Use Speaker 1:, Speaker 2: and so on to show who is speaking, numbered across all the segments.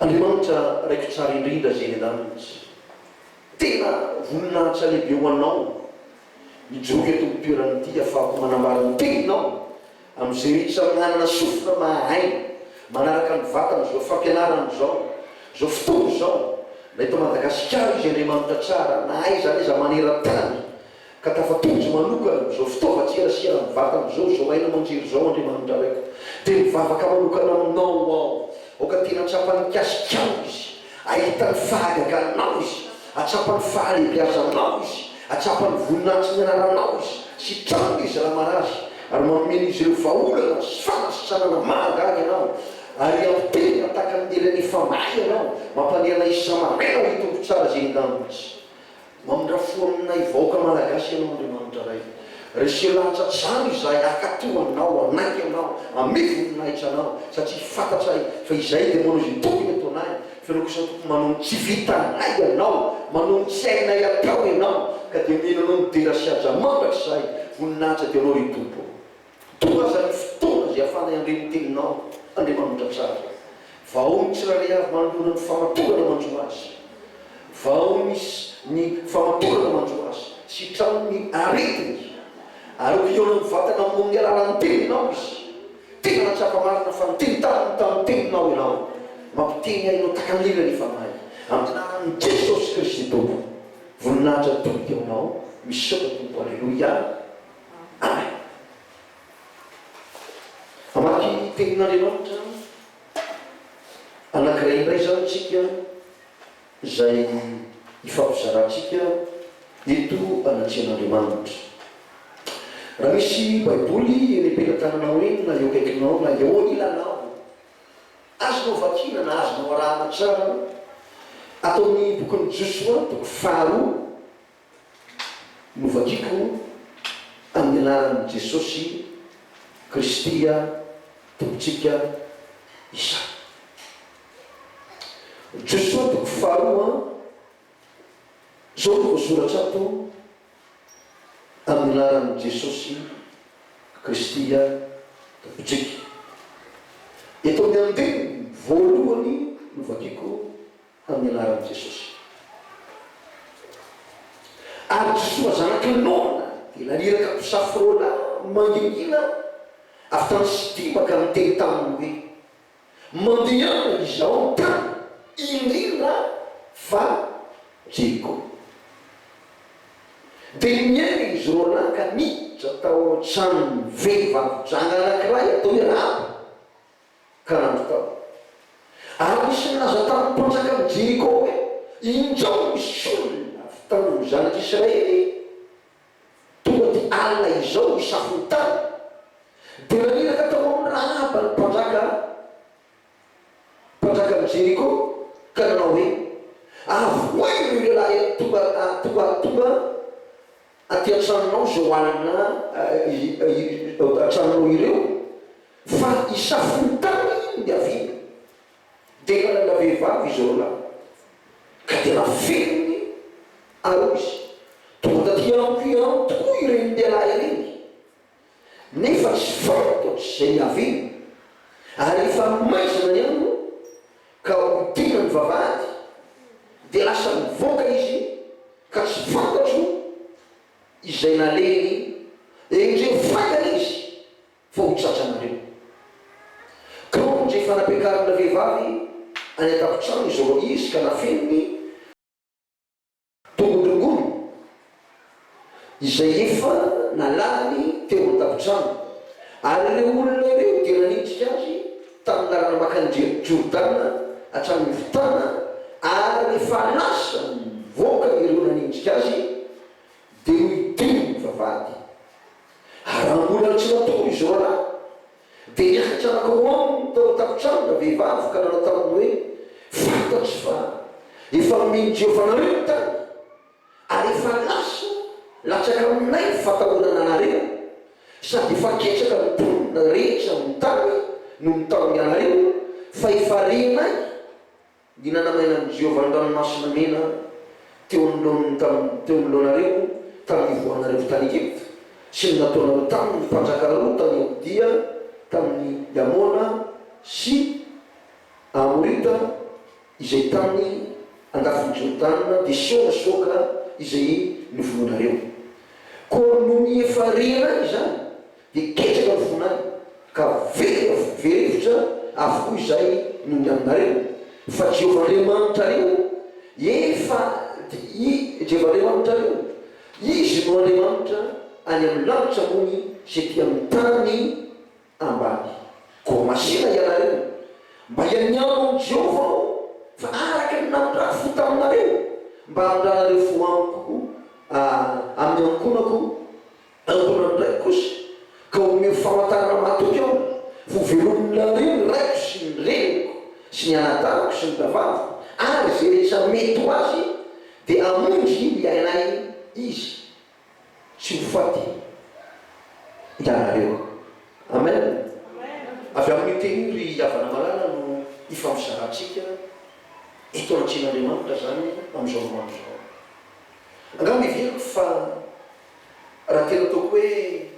Speaker 1: Andriamanitra raiko tsara indrindra zeny anah mintsy tena voninahitra lehibe ho anao mijoroa eto am toerana ity afahako manambara ny teninao am ze rehetra manana sofina mahahaina manaraka ny vatana zao fampianarana zao zao fotoana zao na eto madagasikara izy Andriamanitra tsara na aiza na aiza maneran tany Ka tafatohitra manokana amin'izao fitaovan-tserasera ny vatana izao, izao haino aman-jery izao, Andriamanitra Raiko, dia mivavaka manokana Aminao aho. Aoka tena hahatsapa ny mikasikanao izy, hahita ny fahagaganao izy, hahatsapa ny fahalehibeazanao izy, hahatsapa ny voninahitry ny anaranao izy. Sitrano izy raha marary, ary manome an'izy ireo vahaolana sy fanasitranana mahagaga Ianao, ary ampiterina tahaka ny lelan'ny efa mahay Ianao, mampandehana izy samy hameno ny tombon-tsara izay endaminao izy. Mamindra fo aminay vahoaka Malagasy ianao Andriamanitra Ray. Reseho lahatsatsaho izahay hakato anao hanaiky anao hame voninahitra anao satria fantatray fa izahay dia manao izay tokony ataonay fa ianao kosa Tompo manao ny tsy vitanay ianao manao ny tsy hainay atao ianao ka dia miheno anao midera sy haja mandrakizay voninahitra dia anao ry Tompo. Toa aza ny fotoana izay ahafahanay handre ny Teninao, Andriamanitra tsara. Vao ny tsirairay avy manoloana ny famatorana manjo azy. Vao ny ny famatorana manjo azy. Sitrano ny aretiny. Ary ho hihaona mivantana Aminy amin'ny alalan'ny Teninao izy. Tena nahatsapa marina fa nitentaniny tamin'ny Teninao Ianao. Mampiteny ahy Ianao tahaka ny lily any fanahy. Amin'ny anaran'i Jesosy Kristy Tompo. Voninahitra toa Ny Teninao. Misaotra Tompo. Aleloia. Mamaky ny Tenin'Andriamanitra anankiray indray izany isika, izay ifampizarantsika eto anatrehan'Andriamanitra. Raha misy Baiboly eny am-pelatananao eny, na eo akaikinao, na eo ilanao, azonao vakiana na azonao arahana tsara, ato amin'ny bokin'i Josoa, toko faharoa. Novakiko amin'ny anaran'i Jesosy Kristy Tompontsika izany. Josoa toko faharoa, izao no voasoratra ato, Amin'ny anaran'i Jesosy Kristy Tompontsika. Eto amin'ny andininy voalohany novakiko Tamin'ny anaran'i Jesosy. Ary Josoa zanaka Nona dia naniraka mpisafo roa lahy mangingina avy tany Sitima ka niteny taminy hoe, Mandehana izaho amin'ny tany iniana fa Jeriko. Dia niainga izy roa lahy ka niditra tao an-tranon'ny vehivavy janga anankiray atao hoe Rahaba. ka nanontany. Ary nisy nilaza tamin'ny mpanjakan'i Jeriko hoe, Injao misy olona avy tamin'ny zanak'i Israely tonga aty alina izao hisafo ny tany. Dia naniraka tao amin'i Rahaba ny mpanjaka, mpanjakan'i Jeriko, ka nanao hoe, Avoahy ireo lehilahy tonga, tonga, tonga aty an-tranonao izao alina an-tranonao ireo fa hisafontany iny ny haviana dia nanana vehivavy izy roa lahy ka dia nafeniny ary hoy izy, Tonga taty amiko ihany tokoa ireny lehilahy ireny. nefa tsy fay ataotra izay niaviany, ary efa maizina ny andro ka ho tena mivavahady, dia lasa mivoaka izy ka tsy fantatro izay nalehiny, endrey faingana izy fa ho tratranareo. Kaonjo efa nampiakarina vehivavy any an-tampon-trano izy roa izy ka nafeniny, Tongodrongony izay efa nalany teo an-tafontrano, ary ireo olona ireo dia nanitrika azy tamin'ny lalana makany Jordana hatramin'ny fotana, ary rehefa lasa nivoaka ireo nanenjika azy, dia nidiny nivavahady. Ary raha mbola tsy matory izao raha. Dia niakatra anako ao aminy tao an-tafontrano ilay vehivavy ka nanao taminy hoe, Fantatro fa efa nomen'i Jehovah anareo ny tany, ary efa lasa latsaka aminay ny fatahorana anareo, sady efa ketraka ny mponina rehetra amin'ny tany noho ny tahoranareo, fa efa renay. Ny nanamainan'i Jehovah ny Ranomasina Mena teo anoloany tamin'ny teo anoloanareo tamin'ny nivoahanareo avy tany Egypta, sy ny nataonareo taminy ny mpanjaka roa tany Aodia, tamin'ny Amona sy Amorita izay tany andafin'i Jordana, dia Sihona sy Oga izay novonoinareo. Koa nony efa rena izany, Dia ketraka ny fonay, ka very na very hevitra avokoa izay noho ny aminareo, fa Jehovah Andriamanitrareo efa i Jehovah Andriamanitrareo, Izy no Andriamanitra any amin'ny lanitra ambony sy ety amin'ny tany ambany. Koa masera ianareo, mba hianiano amin'i Jehovah aho, fa araka ny nanirahako taminareo, mba handranareo fo amiko amin'ny ankohonako, Ankoatra an'ireny kosa, ka omeo famantarana matoky aho ho velominareo ny raiko sy ny reniko sy ny anadahiko sy ny rahavaviko, ary izay rehetra mety ho azy, dia hamonjy ny iainay Izy, tsy ho faty ianareo. Amen. Avy amin'io teny io, ry havana malala, no ifampizarantsika eto anatrehan'Andriamanitra izany amin'izao andro izao. Angamba heveriko fa Raha tena ataoko hoe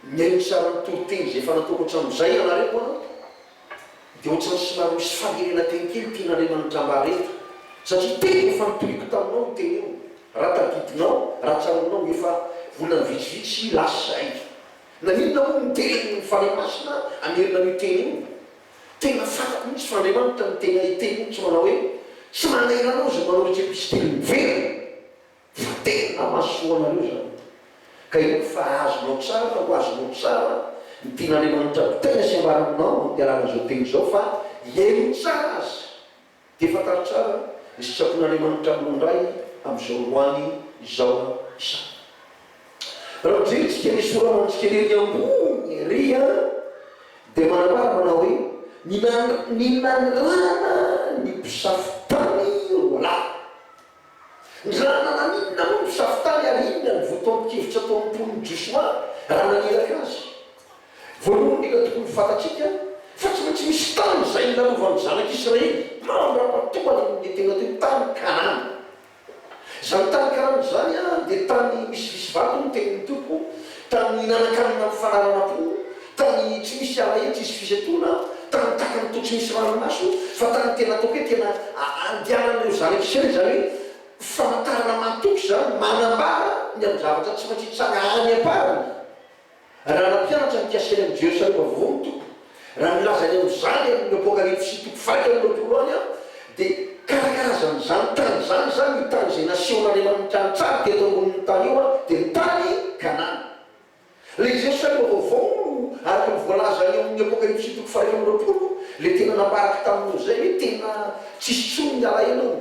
Speaker 1: mihaino ny saran'ny toriteny izay efa nataoko hatramin'izay ianareo an, dia ohatran'ny somary misy faherena-teny kely tian'Andriamanitra mba hareto, satria tena efa nitoriako taminao io teny io, raha tadidinao, raha tsaroanao, efa volana vitsivitsy lasa izay. Naninona moa no teren'ny Fanahy Masina hamerina an'io teny io? Tena fantako mihitsy fa Andriamanitra no tena hiteny mihitsy manao hoe, Tsy manahirana aho izay manao retrepestily miverina. Fa tena mahasoa anareo izany. Ka inoako fa azonao tsara fa ho azonao tsara ny tian'Andriamanitra ampiaina sy ambarana anao amin'ny alalan'izao teny izao fa hihaino tsara azy. Dia fantaro tsara ny sitrapon'Andriamanitra aminao indray amin'izao androany izao izany. Raha mijery antsika ny sora-manintsika ery ambony ery dia manambara manao hoe, Ny nanandrana ny mpisafo tany roalahy. Ny rahalahy naninona moa no safitany ary inona no votoatin-kevitra ataon'ny mponin'i Josoa raha naniraka azy? Voalohany indrindra tokony ho fantatsika fa tsy maintsy misy tany izay nilalovan'ny zanak'i Israely mandra-patoana ny nitena teo tany Kanana. Izany tany Kanana izany dia tany misivisy vato hoy ny tenin'ny Tompo, tany nihinan-kanina mifanarana-po, Tany tsy misy ala eny tsisy fisentoana, tany takany toa tsy misy ranomaso, fa tany tena ataoko hoe tena andianan'ireo zanak'i Israely, izany hoe famantarana mahatoky izany, manambara ny amin'ny zavatra tsy maintsy hitsanga any am-parany. Raha nampianatra ny Kasely amin'ny Jerosalema Vaovao ny Tompo, raha nilaza ny amin'izany amin'ny Apokalypsy toko fahaenina amby roapolo any Aho, dia karakarazan'izany tany izany izany, io tany izay nasehon'Andriamanitra an-tsary teto ambonin'ny tany io dia ny tany Kanana. Ilay Jerosalema vaovao, araka ny voalaza eo amin'ny Apokalypsy toko faha enina amby roapolo, ilay tena nambarako taminao izay hoe tena tsy hisy intsony ny alahelo ao,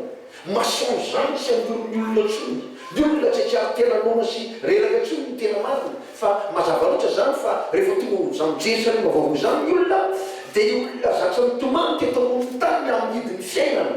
Speaker 1: mensonge izany, tsy handoro ny olona intsony, ny olona tsy hahatsiaro tena noana sy reraka intsony ny tena marina, fa mazava loatra izany fa rehefa tonga ao amin'izany Jerosalema vaovao izany ny olona, dia olona zatra nitomany teto ambonin'ny tany amin'ny hidin'ny fiainana,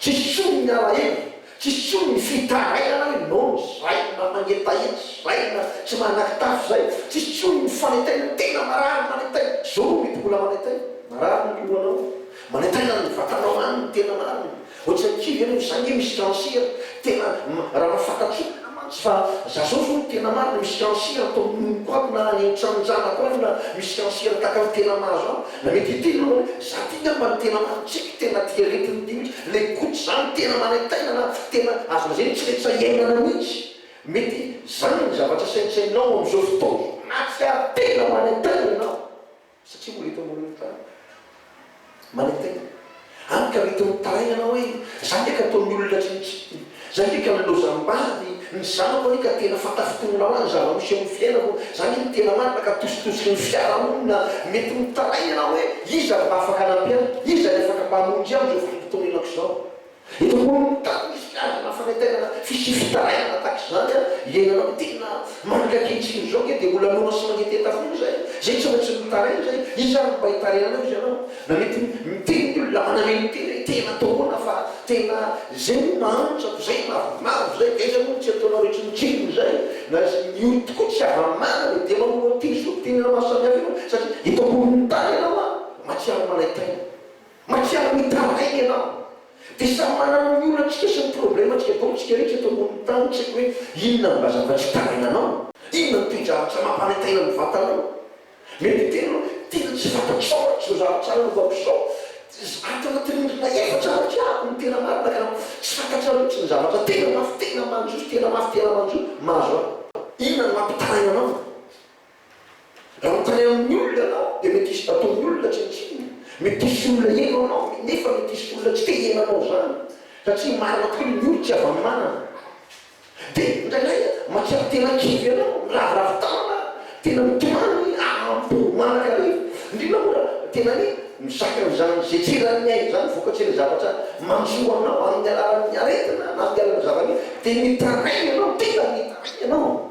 Speaker 1: Tsy sono ny alahelo, tsy sono ny fitarainana hoe nono izay na mangetaheta izay na tsy manakitafo izay, tsy sono ny fanetainana, tena marary manetaina, zoro mety mbola manetaina, marary ny lohanao, manetaina ny vatanao any ny tena marina, ohatry ny kivy ianao, za nge misy cancer, Tena raha ny fantatriko tena mantsy fa za zao zao ny tena marina misy fiancé ato amin'ny nonoko ato na any amin'ny tranon-janako any na misy fiancé tahaka ny tena mahazo ahy na mety hiteny ianao hoe za ty ngamba ny tena marina tsy haiko tena ty aretina ity mintsy le gout zany tena manaintaina na tena azo lazaina hoe tsy retsy sahy iainana mintsy mety zany ny zavatra saintsaininao amin'izao fotoana zao na tsy ary tena manaintaina ianao Satria mbola eto ambonin'ny tany. Manaiky tena. Hany ka mety mitaraina ianao hoe, Izaho ve ka toy ny olona rehetra? Izaho ve ka nilozam-bady? Ny zanako anie ka tena fanta-fitonona ho ahy ny zava-misy eo amin'ny fiainako. Izaho anie no tena marina ka tositosiky ny fiarahamonina. Mety mitaraina ianao hoe, Iza no mba afaka hanampy ahy? Iza ny afaka mba hamonjy ahy amin'izao vanim-potoana iainako izao? Eto koa, tahaka ny filazana fanentanana fisian'ny fitarainana tahaka izany iainana amin'ity na manomboka ankehitriny izao ange dia mbola mihaona sy mangetaheta foana izay, izay tsy maintsy mitaraina izay, iza ary no mba hitarainana eo hozy ianao? Na mety miteny ny olona manamely ny tena hoe tena atao ahoana fa tena izay moa mahantra ko izay mavomavo izay dia aiza moa ny tsy ataonao rehetra ny tsirony izay na izay miory tokoa tsy hava-manana e dia mamono an'ity ny zom-pitenenana maro samihafa io satria eto ambonin'ny tany ianao a! mahatsiaro manaintaina. Mahatsiaro mitaraina ianao. Dia samy manana ny olantsika sy ny problemantsika, baolitsika rehetra eto ambonin'ny tany, tsy haiko hoe inona no mba zava-tsy taraina anao? Inona no toe-javatra mampanaintaina ny vatanao? Mety hiteny ianao hoe, tena tsy fantatrao raha tsy ho zara tsara ny lohako izao. Ato anatin'ny ondrina efatra aho aty aho no tena marina ka tsy fantatrao mihitsy ny zavatra tena mafy, tena manjo sy tena mafy tena manjo mahazo ahy. Inona no mampitaraina anao? Raha mitray amin'ny olona anao dia mety hisy bataon'ny olona tsy nitsinona. Mety hisy olona heno anao nefa mety hisy olona tsy te hihaino anao izany satria marina tokoa ny olo tsy avanimanana. Dia indraindray mahatsiaro tena kivy ianao, miraviravy tanana, tena mitomany haham-po manakariva. Indrindra moa raha tena hoe mizaka an'izany izay tsy eran'ny ainy izany ny vokatry ilay zavatra mandroso ho anao amin'ny alalan'ny aretina na amin'ny alalan'ny zava-misy dia mitaraina ianao, tena mitaraina ianao.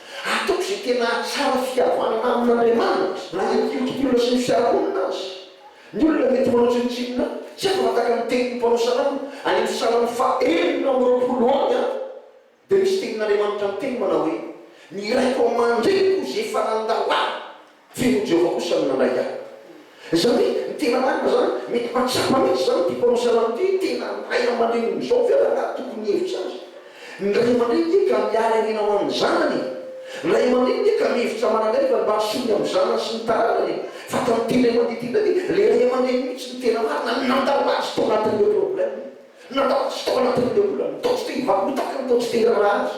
Speaker 1: Ataoko izay tena hahatsara fihavanana amin'Andriamanitra, na eo ankihitriky ny olona sy ny fiarahamonina aza. Ny olona mety manao tsinontsinona ahy, tsy afaka tahaka ny tenin'ny mpanao salamo any amin'ny salamo faha enina amby roapolo any aho, dia misy tenin'Andriamanitra miteny manao hoe, Ny raiko aman-dreniko izay efa nandalàna. Feon'i Jehovah kosa no nandray ahy. Izany hoe, ny tena marina izany, mety mahatsapa mihitsy izany ity mpanao salamo ity hoe tena ny ray aman-dreniny amin'izao ve raha raha tokony hihevitra azy? Ny ray aman-dreny dia ka miara hihena ho an'ny zanany e! Ny ray aman-dreny dia ka mihevitra manangaiva ny mba hahasoa ny amin'ny zanany sy ny taranany e! Fa tamin'ity indray mandeha ity indray dia ilay ray aman-dreny mihitsy no tena marina no nandao azy tao anatin'ilay problème-ny. Nandao azy tao anatin'ilay olana, tao tsy te-hivarotaky ny tao tsy te-hiraharaha azy.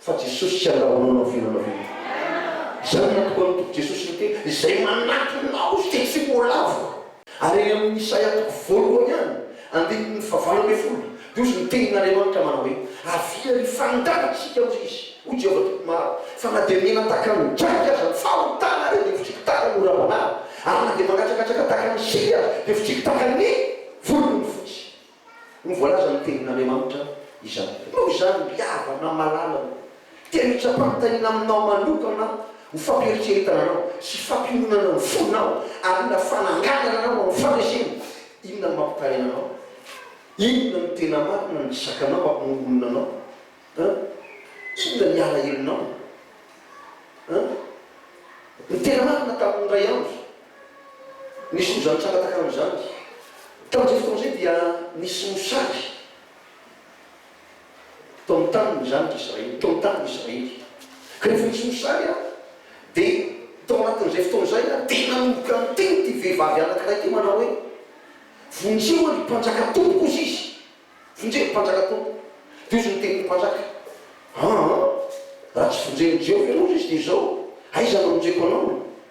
Speaker 1: Fa Jesosy tsy andrahona anao vina anao vina. Izany no antoko an'itoky Jesosy niteny, izay manatona aho dia tsy ho lavo. Ary any amin'ny Isaia toko voalohany any, andininy fahavalo ambin'ny folo, dia hozy ny tenin'Andriamanitra manao hoe, Avia ary hifandàna isika, hozy Izy, hoy Jehovah Tompo Maro, fa na dia mena tahaka ny draka aza ny fahotana arehy dia votriko tahaka ny ora-banana, ary na dia mangatsakatsaka tahaka ny sika aza dia votriko tahaka ny volon'ny fotsy. no voalaza ny tenin'Andriamanitra izany. Noho izany, miava na malala ny tena itsapam-pitahiana aminao manokana ho fampiheritreretana anao sy fampiononana ny fonao ary inona fananganana anao ho amin'ny fandresena, inona no mampitaina anao, inona no tena marina, ny zakanao mampimongonona anao an, inona ny alahelonao an, ny tena marina tamin'ny iray andro. Nisy mozary tsara takan'izany. Tamin'izay fotoana izay dia nisy mosary tao amin'ny tanin'ny zanak'i Israely, tao amin'ny tanin'i Israely. Ka rehefa nisy mosary, dia tao anatin'izay fotoana izay, dia nanomboka niteny ity vehivavy anankiray ity manao hoe, Vonjeo ary mpanjaka tompoko, hozy izy. Vonjeo ry mpanjaka tompoko. Dia hozy niteny ny mpanjaka, Aa, raha tsy vonjen'i Jehovah ianao, hozy izy, dia izao, aiza no hamonjeko anao?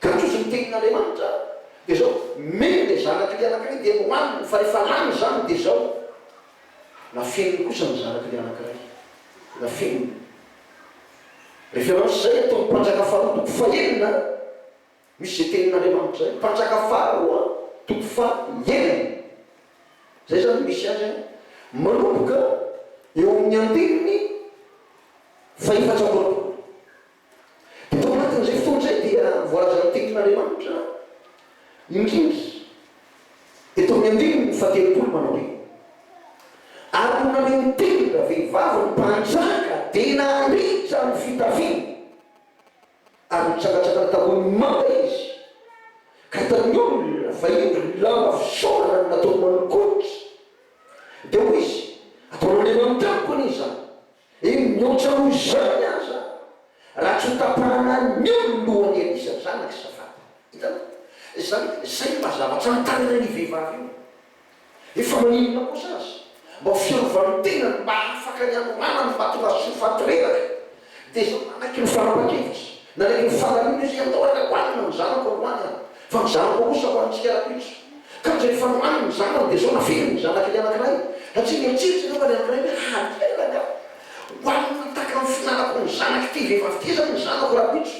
Speaker 1: Kanjo izy ny tenin'Andriamanitra dia zao, mino le zanak'i le anankiray dia hohaniny, fa rehefa lany zany dia zao, nafeniny kosa ny zanak'i le anankiray, nafeniny. Référence zay ataon'ny mpanjaka faharoa toko fahenina, misy zay tenin'Andriamanitra zay, mpanjaka faharoa toko faha enina, zay zany no misy azy an, manomboka eo amin'ny andininy faha efatra amby roapolo. Dia tao anatin'izay fotoana izay dia voalazan'ny Tenin'Andriamanitra indrindra eto amin'ny andininy fahatelopolo manao hoe, Ary no naneho ny teniny ravehivavy ny mpanjaka dia naritra ny fitafiany, ary nitsangantsangana tambohon'ny mamba izy, ka hitan'ny olona fa indro ny lamba fisaorana no nataony manolokolotra. Dia hoy izy, Ataon'Andriamanitra amiko anie izany. Eny, mihoatra noho izany aza, raha tsy hotapahana anio ny lohan'i Elisa zanak'i Safata. Hitanao? Izany, izay mba zavatra notarihan'io vehivavy io. Efa maninona kosa aza, mba ho fiarovan'ny tenany mba hahafaka ny hanorana ny vatorasoa faty reraka, dia izao nanaiky ny fanapa-kevitra, nanaiky ny fanalina izy hoe, Atao haingam-panina ny zanako androany aho, Fa izany koa kosa ho antsika Rakoto, ka ndre efa nohaniny ny zanany dia zao naveriny ny zanaky ny anankiray, satria nieritreritra angamba ny anankiray hoe hahaterina aho, hoanina ho tahaka ny fihinanako ny zanaky ity vehivavy ity izany ny zanako Rakoto.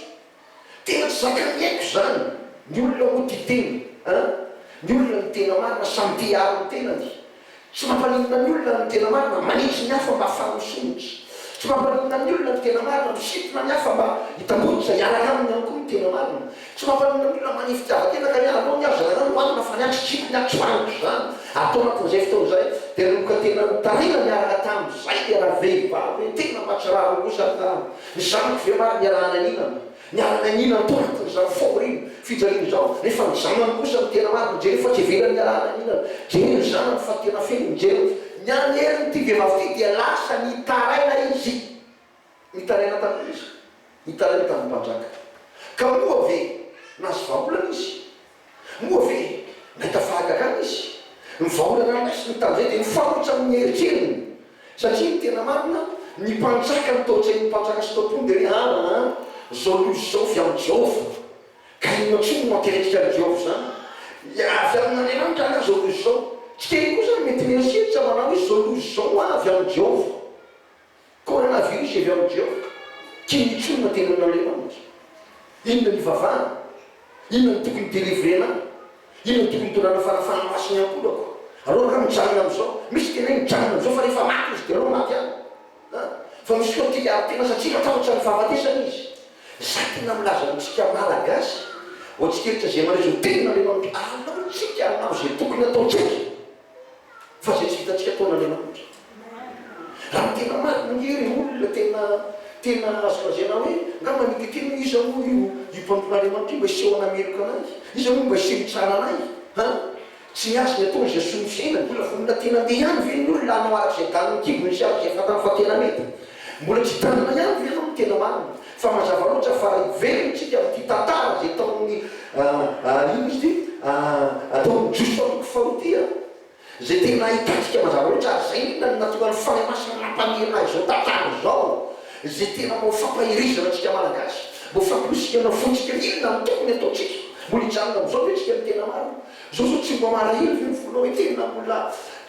Speaker 1: Tena tsy zakan'ny aiko izany, ny olona moa tia tena an! Ny olona ny tena marina samy te hiaro ny tenany, Tsy mampaninona ny olona ny tena marina, manitsy ny hafa mba hahafahany misondrotra. Tsy mampaninona ny olona ny tena marina, misintona ny hafa mba hitamboniny izay hiaraka aminy ihany koa ny tena marina. Tsy mampaninona ny olona mania fitiavan-tena ka miala aloha ny hafa, zarana ny hohanina fa ny ahy tsy tsipy, ny ahy tsy vangotra izany, ary tao anatin'izay fotoana izay dia nanomboka tena nitarina niaraka tamin'izay ny rahavehivavy hoe, tena mahatsiravina kosa ny tany, ny zanako ve marina iaraha-naninana? Niala ny anila ny pointin'ny zandry fahoriana, fijalian'ny zandry, nefa ny zanany kosa no tena marina, jereo fa tsy ivelany ny ialana ny anilany, jereo ny zanany fa tena feno, jereo fa. Ny an'ny herin'ity vehivavy ity dia lasa nitaraina izy, nitaraina tamin'ny iza? Nitaraina tamin'ny mpanjaka. Ka moa ve nahazo vahaolana izy? Moa ve nahita fahagagana izy? Ny vaholan'Atra sy ny tandreny dia nifarotra amin'ny eritreriny, satria ny tena marina, ny mpanjaka no tao an-tsain'ny mpanjaka sy tao-pony dia hoe, Ann, ann, izao loza izao avy amin'i Jehovah. Ka inona intsony no aterentsika an'i Jehovah izany? Avy amin'Andriamanitra angaha izao loza izao? Tsy kely koa izany, mety mieritreritra manao hoe, Izao loza izao ho avy amin'i Jehovah. Coronavirus avy amin'i Jehovah, Kinitr'olona teny amin'Andriamanitra. Inona ny ivavahana? Inona no tokony delivrena ahy? Inona no tokony hitondrana fanafahana ho ahy sy ny ankolako? Aleo angaha mijanona amin'izao. Misy tena hoe mijanona amin'izao fa rehefa maty izy dia aleo maty ihany. An! Fa misy koa te hiaro tena satria matahotra ny fahafatesana izy. Izaho tena milaza amintsika Malagasy, ho antsika rehetra izay mandray izao tenin'Andriamanitra, aleontsika hanao izay tokony hataontsika. fa izay tsy vitantsika ataon'Andriamanitra. Raha ny tena marina nge ry olona tena tena azo lazaina hoe angamba ny tetemin'ny iza moa io io mpanompon'Andriamanitra io mba hiseho hanameloka anay? Iza moa mba hiseho hitsara anay? Ha? Tsy ny azy ny ataony izay soa ny fiainany. Mbola vonona tena andeha ihany ve ny olona hanao araka izay danin'ny kibony sy araka izay fantany fa tena mety? Mbola tsy hitandrina ihany ve ianao ny tena marina? Fa mazava loatra fa hiverina isika amin'ity tantara izay taon'ny inona izy ity? taon'ny Jiosy taon'ny faharoa ity an! izay tena ahitantsika mazava loatra ary izay indrindra no nahatonga ny Fanahy Masina nampaniry ahy izao tantara izao izay tena mba ho fampahirizana antsika Malagasy, mba ho fampirisihana fontsika inona no tokony hataontsika? Mbola hijanona amin'izao ve isika ny tena marina? Zao zao tsy mba marahina ve ny fonao hoe tena mbola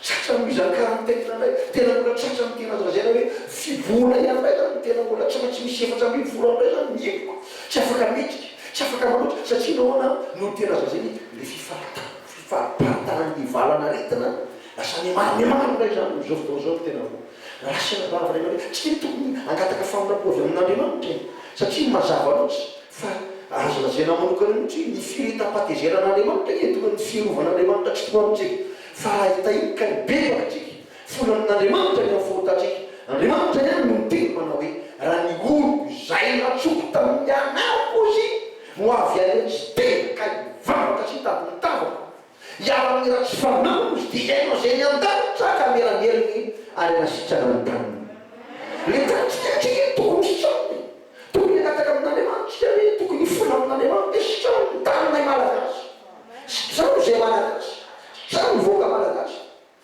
Speaker 1: tratra ny mizakà ny tena indray? Tena mbola tratra ny tena zazaina hoe fibohona ihany indray zany ny tena mbola tratra tsy misy efatra ambin'ny folo andro indray zany ny emoko, tsy afaka mendrika, tsy afaka manoatra satria nahoana no ny tena zazaina le fifaritana, fifariparitana ny valanaretina lasa mihamaro mihamaro indray zany amin'izao fotoana izao ny tena vao raisina vava ray aman-dreny, tsy dia tokony hangataka famindrapo avy amin'Andriamanitra e! satria mazava loatra Fa azo lazaina manokana mihitsy hoe ny firehetam-patezeran'Andriamanitra eto no ny firovan'Andriamanitra tsy toa amintsika, fa raha hitahiana ka hibebaka antsika, folanin'Andriamanitra ny amin'ny fahotantsika, Andriamanitra ihany no niteny manao hoe, Raha ny oroko izay natsoko tamin'ny anarako hozy no avy any amin'ny siteny ka hivavaka sy hitady ny tavako, Hiala amin'ny ratsy fanahy hoy ity Haino izay ny an-danitra ka mera velona ary hanasitrana ny taniny. Ny tanintsika ankehitriny tokony sitrana e! Tokony hangataka amin'Andriamanitra isika hoe tokony hifoha amin'Andriamanitra. Sitraho ny taninay Malagasy. Sitraho izay Malagasy. Sitraho ny vahoaka Malagasy.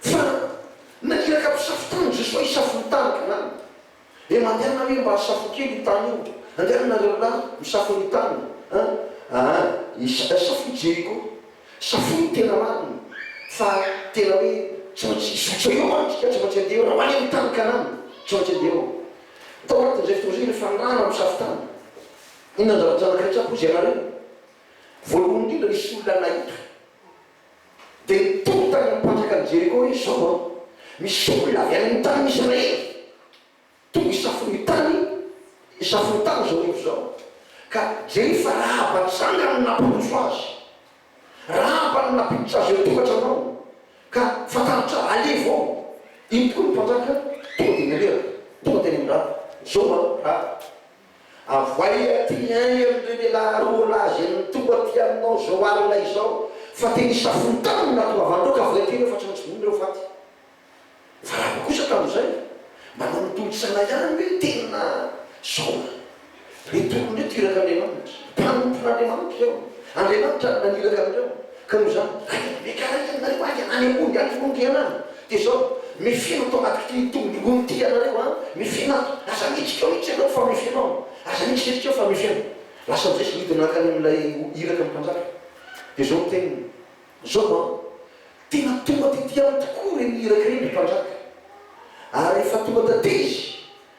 Speaker 1: Fa na iraka mpisafo tany i Jesoa hisafo ny tany ka lany. Dia mandehana hoe mba asafo kely io tany io. Andehana nareo lahy misafo ny tany a! Aa! Asafo i Jeriko. Safoy ny tena marina. Fa tena hoe tsy maintsy hizotra eo mantsy ka tsy maintsy andeha eo raha ho any amin'ny tany Kanana. Tsy maintsy andeha eo. Tao anatin'izay fotoana izay rehefa nirahana misafo tany. Inona ny zavatra nankaretsaka hozy ianareo? Voalohany indrindra nisy olona nahita. Dia niteny tany amin'ny mpanjakan'i Jeriko hoe, Izao aho, misy olona avy any amin'ny tanin'i Israely tonga hisafo ny tany, hisafo ny tany izao hariva izao, ka jereo fa Rahaba tranga no nampandroso azy. Rahaba no nampiditra azy eo an-tokantrano ao, ka fantaritra aleha vao. Iny tokoa ny mpanjaka tonga dia nirehitra, tonga teny amin'i Rahaba, Izao aho, Rahaba, Avoahy aty ny ainy amin'ireny elah roa lahy izay mitombo aty aminao izao alina izao fa tena isafontany ny natoavan'ireo ka voa aty ireo fa tsy maintsy vonoina ireo faty. Fa raha vao kosa ka amin'izay manao ny tolotsana ihany hoe tena zao ny hoe tolona eto iraka Andriamanitra. Mpanompon'Andriamanitra ireo. Andriamanitra no naniraka an'ireo. Ka noho izany, raha dia mety halaky aminareo ahy ka hanehoa ny ato aloha ny tenanareo, dia izao, Mifehy ato ambadik'ity tongolongon'ny ity ianareo an! Mifehy ato! Aza midika mihitsy ianao fa mifehy ao! Aza midika iantsika ao fa mifehy ao! Lasa amin'izay izy nidina nankany amin'ilay iraka ny mpanjaka. Dia izao ny teniny, Izao an! Tena tonga taty amiko tokoa ireny iraka ireny, ry mpanjaka. Ary rehefa tonga taty izy,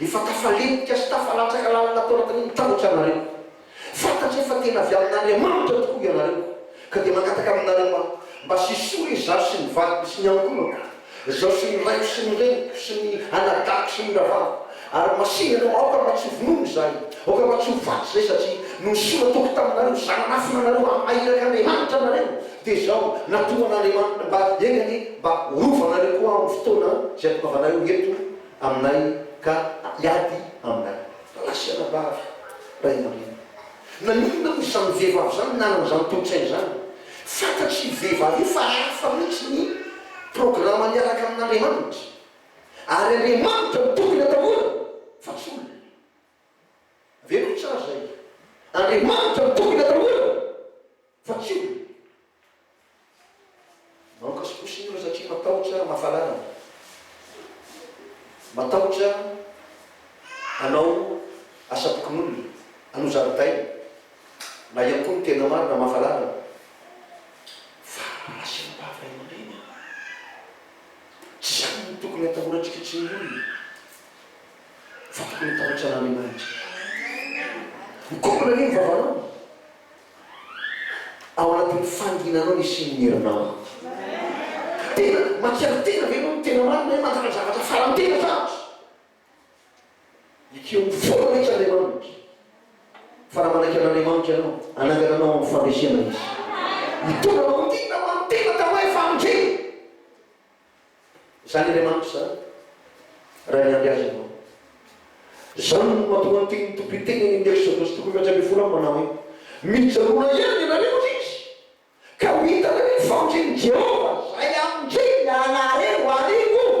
Speaker 1: Efa tafalenika sy tafalatsaka lalina tao anatin'ny mitambotra ianareo. Fantatray fa tena avy amin'Andriamanitra tokoa ianareo, ka dia mangataka aminareo aho mba sisoro izaho sy ny vadiko sy ny ankohonako, izaho sy ny raiko sy ny reniko sy ny anadahiko sy ny rahavaviko, ary masìna ianao, aoka mba tsy ho vonoina izahay, aoka mba tsy ho faty izahay, satria noho ny sola toko taminareo, zanan'afo nanareo hamaha iraka Andriamanitra anareo, dia izao natohan'Andriamanitra mba eny anie mba horovanareo koa aho amin'ny fotoana izay tongavanareo eto. Aminay ka hiady aminay. Lasa anabavy ray aman-dreny. Naninona moa izany vehivavy izany nanana izany tolo-tsaina izany? Fantatr'io vehivavy io fa hafa mihitsy ny programa miaraka amin'Andriamanitra, ary Andriamanitra no tokony atahorana fa tsy olona. Avereno tsara izay, Andriamanitra no tokony atahorana. Fa kivy e! Mamoka sposy ny olona satria matahotra mafalanana. Matahotra hanao asam-pokonolona, hanao zaridaina, na ihany koa ny tena marina mafalanana. Fa asiana am-bava ray aman-dreny e! Tsy izany no tokony hatahorantsika tsy ny olona fa tokony hatahotra an'Andriamanitra. Mikombona anie ny vavanao. Ao anatin'ny fanginanao ny hisian'ny herinao. Tena makiaky tena ve ianao ny tena marina hoe manjary zavatra faran'ny tena zavatra? Ekeo ho foana mihitsy Andriamanitra fa raha manaiky an'Andriamanitra ianao, hanangana anao amin'ny fandresena Izy. Hitondra anao ho tia ny naman'ny tena tao hoe famonjena. Zany Andriamanitra zany raha miandry azy ianao. Zany no mahatonga ny tenin'ny Tompo hiteny any amin'ny Exodosy toko fahaefatra ambin'ny folo amby manao hoe, Mijoroa ihany ianareo ry izy, ka ho hitanareo ny famonjen'i Jehovah, izay hamonjeny ny anahareo, arivony.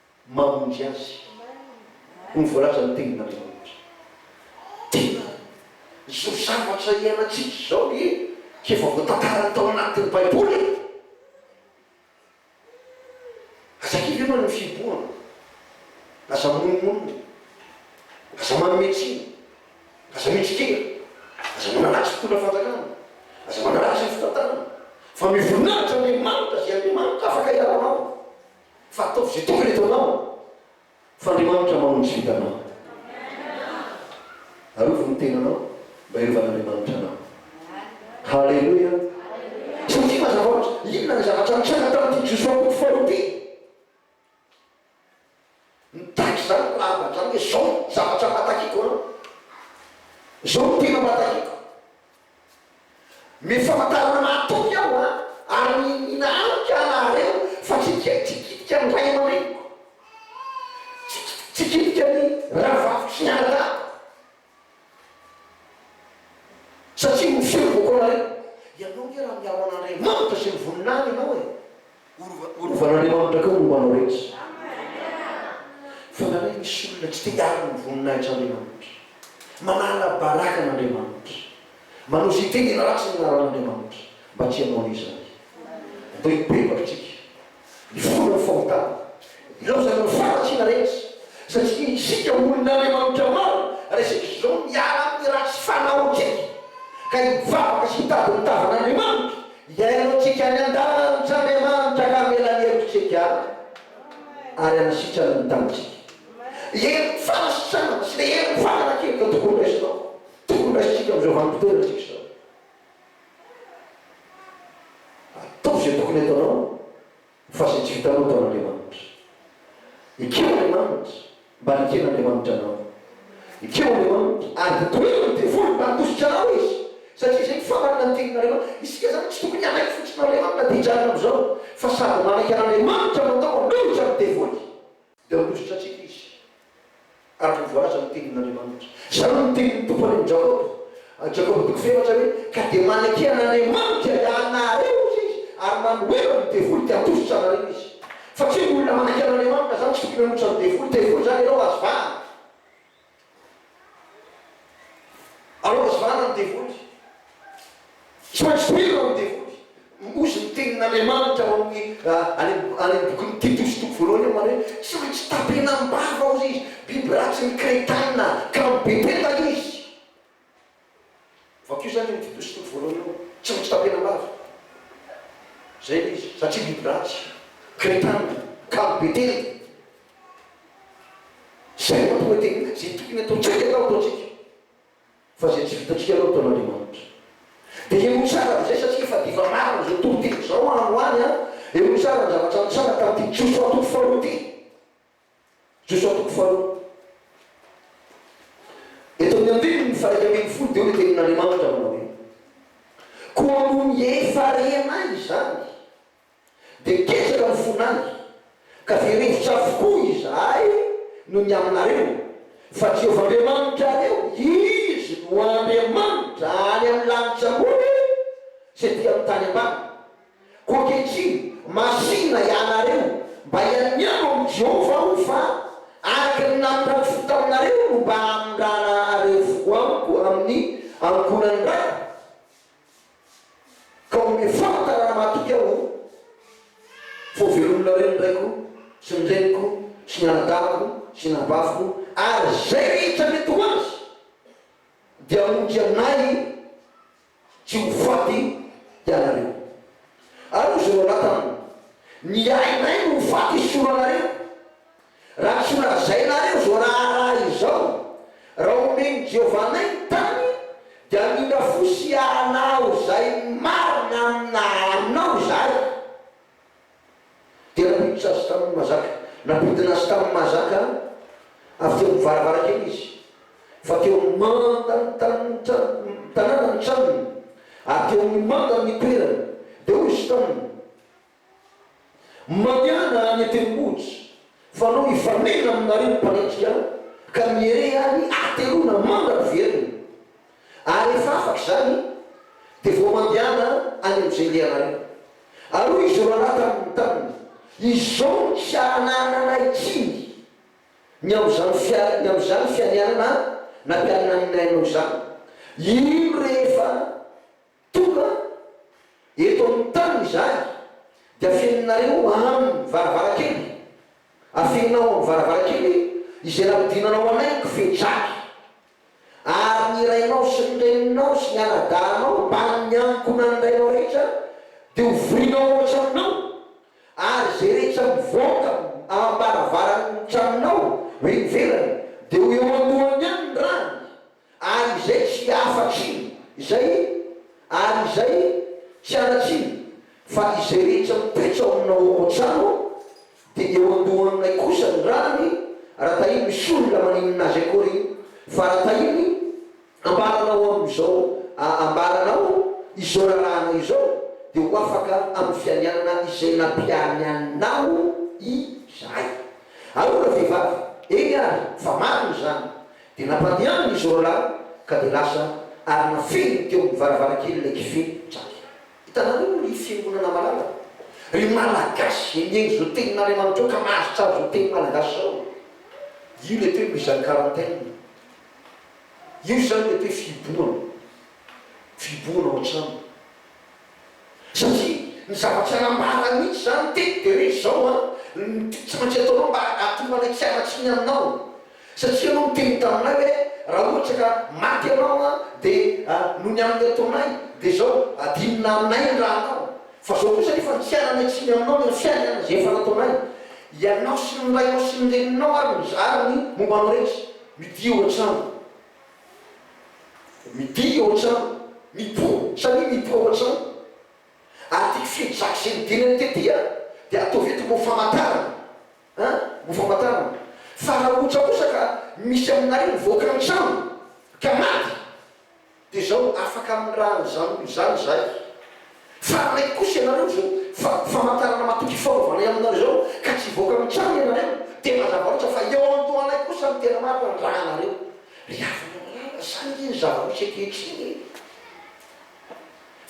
Speaker 1: mamonjy azy hoy ny voalazan'ny tenin'Andriamanitra. Tena izao zavatra iainantsika izao ve tsy efa voatantarany tao anatin'ny baiboly e? Aza kivy ianao eo amin'ny fihibohana, aza monomonona, aza manome tsiny, aza mitsikera, aza manaratsy fitondra fanjakana, aza manaratsy ny fitantanana, fa mivoninahitra Andriamanitra izay Andriamanitra afaka hialanao. Fa ataovy izay tokony ataonao fa Andriamanitra mamonjy vintanao. Arovy ny tenanao mba hiarovan'Andriamanitra anao. Haleloia. Satria mazava loatra, inona ny zavatra nitranga tamin'ity Josoa mpody faharoa ity? Mitaky izany ny marina, izany hoe izao no zavatra mba takiako anao, izao no tena mba takiako. Mety famantarana mahatoky aho an, ary mihina amiko aho nahareo, fa tsy kit, tsy kitika ny ray aman-dreniko, tsy kitika ny rahavaviko sy ny anadahiko. Satria ny feo vao kôla re. Ianao nge raha miaro an'Andriamanitra sy ny voninahiny ianao e! Ho rovan'Andriamanitra koa ny lohanao rehetra. Fanahy misy olona tsy te hiaro ny voninahitr'Andriamanitra. Manala baraka an'Andriamanitra. Manao izay tena ratsy ny anaran'Andriamanitra. Mba tsy hanao an'izany. Atao hibebaka tsika. Mifono ny fahotana. Ilaozana ny faharatsiana rehetra, satria isika olon'Andriamanitra maro resaka izao miala amin'ny ratsy fanaontsika, ka hivavaka sy hitady ny tavan'Andriamanitra hiainantsika any an-dalantr'Andriamanitra ka hamela ny helokantsika ary hanasitrana ny tanintsika. Herin'ny fanasitranana sy ilay herin'ny faharatsiana izao tokony ho raisinao, tokony ho raisintsika amin'izao vanim-potoana antsika izao. Ataovy izay tokony ataonao fa izay tsy vitanao ataon'Andriamanitra. Ekeo Andriamanitra mba haneken'Andriamanitra anao. Ekeo Andriamanitra ary ho tohirin'ny devoly mba handositra anao Izy satria izay no famarana ny tenin'Andriamanitra. Isika izany tsy tokony hanaiky fotsiny an'Andriamanitra dia hijanona amin'izao fa sady manaiky an'Andriamanitra no atao manohitra ny devoly. Dia hovotra antsika izy, ary ho voalaza ny tenin'Andriamanitra. Izany no tenin'ny Tompo any amin'i Jakoba, Jakoba toko fahefatra, hoe, Ka dia manekena an'Andriamanitra hiahanareo, hoy Izy, ary manoheva ny devoly, dia handositra anareo Izy. Fa tsy hoe ny olona manekena an'Andriamanitra izany tsy tokony hanohitra ny devoly. Devoly izany ianao, azo vahana. Allo azo rariny ny devoly. Transfert ny devoly. Ozy ny tenin'Andriamanitra ao amin'ny any amin'ny bokin'i Titosy toko voalohany eo mare hoe tsy maintsy tapenam-bava ozy izy, biby ratsy ny Kretaina, ka amin'ny Betela izy. Vakio zany io dindo sy toko voalohany io tsy maintsy tapena lava. Zay le izy satria biby ratsy, crétin, kamo betely. Zay no mahatonga dia zay tokony ataontsika atao ataontsika fa zay tsy vitantsika aloha ataon'Andriamanitra. Dia eo tsara avy izay satria efa diva marina zao tontolo izao any ho any an! Eo tsara ny zavatra nitsanga tamin'ity Josoa toko faharoa ity. Josoa toko faharoa. Eto amin'ny andininy faha-iraika ambin'ny folo dia hoy ny Tenin'Andriamanitra manao hoe, Koa noho ny efa-rehanay izany, dia ketraka ny fonay, ka very hevitra avokoa izahay noho ny aminareo, fa Jehovah Andriamanitrareo, Izy no Andriamanitra any amin'ny lanitra ambony sy etỳ amin'ny tany ambany. Koa ankehitriny, masìna ianareo mba hianiako amin'i Jehovah aho, fa araka ny nampirantiako taminareo no mba hamindrana an'ireo foko amiko amin'ny ankohonan'ny Raiko, ka omeo famantarana matoky aho fa hovelominareo ny raiko sy ny reniko sy ny anadahiko sy ny anabaviko, ary izay rehetra mety ho azy dia hamonjy anay. tsy ho faty ianareo. Ary hoy Jonathan taminy, Ny ainay no ho faty isoloanareo, raha tsy holazainareo izao raharaha izao, Raha homen'i Jehovah anay ny tany, dia hamindra fo sy hahalao izay marina amina aminao izahay. Dia nampiditra azy tamin'ny mahazaka. Nampidina azy tamin'ny mahazaka avy teo amin'ny varavarankely izy, fa teo amin'ny mandan'ny tanàna ny tranony, ary teo amin'ny mandan'ny ny toerany. Dia hoy izy taminy, Mandehana any an-tendrombohitra, fanao hifanena aminareo ny mpanenjika, ka mieré any hateloana mandra-piverina. ary rehefa afaka izany dia vao mandehana any amin'izay ndehanareo. Ary hoy izy rahalahy taminy taminy, Izao no tsy hahanahana anay intsiny ny amin'izany fia, ny amin'izany fianianana nampianinaninay anao izany. Iny rehefa. Tonga eto amin'ny tany izahay, dia afeninareo amin'ny varavarankely, afeninao amin'ny varavarankely izay nampidiranao anay kofedraly, ary ny rainao sy ny reninao sy ny anadahinao ambanin'ny angonan'ny rainao rehetra dia hovorinao ao an-tranonao, ary izay rehetra mivoaka am-baravaran'ny tranonao ho eny ivelany dia ho eo anoloany ihany ny rany, Ary izay tsy hafatr'iny, izay, ary izay tsy hanatr'iny, fa izay rehetra mitoetra ao aminao ao an-trano, dia eo an-dohan'ilay kosa ny ràny, raha tahiny misoa ny lamaninina azy akory iny, fa raha tahiny, ambaranao amin'izao, a, ambaranao izao rarahana izao, dia ho afaka amin'ny fianianana izay nampiany anao izahay. Ahoana vehivavy? Eny ary, fa marina izany. Dia nampandehany ny zoroalahy ka dia lasa ary nafehiny teo amin'ny varavarankelin'ilay kife Jack. Hitanareo moa ry fiangonana malala, ry Malagasy izay mihaino izao tenin'Andriamanitra io ka mahazo tsara izao teny malagasy izao e! Io ilay toe mise en quarantaine. Io izany ilay toe fihibohana. Fihibohana ao an-trano. Satria ny zavatra nambarany mihitsy izany teny dia hoe izao an, ny tiako tsy maintsy ataonao mba hahatonga anay tsy hanatsy ny aminao, satria ianao niteny taminay hoe raha ohatra ka maty ianao an dia an noho ny amin'ny ataonay dia izao adinona aminay ny ranao, fa izao kosa nefa ny tsy hananay tsiny aminao dia ny fiainana izay efa nataonay ianao sy ny rainao sy ny reninao ary ny ary ny momba anao rehetra, mitia hoatrany. Midia ao an-trano, mipoa, samia mipoa ao an-trano. Article fito zaka izay nodinany tety a, dia ataovy eto ho famantarana a, ho famantarana. Fa raha ohatra kosa ka misy aminareo mivoaka ny trano ka maty, dia izao, afaka amin'ny raha an'izany olona izany izahay. Fararay kosa ianareo izao fa famantarana matoky fanovana eo aminareo izao ka tsy hivoaka mitranga ianareo dia mazava loatra fa eo amin'ny tohanay kosa no tena maro andrahanareo ry havana malala zany nge ny zava misy ankehitriny e!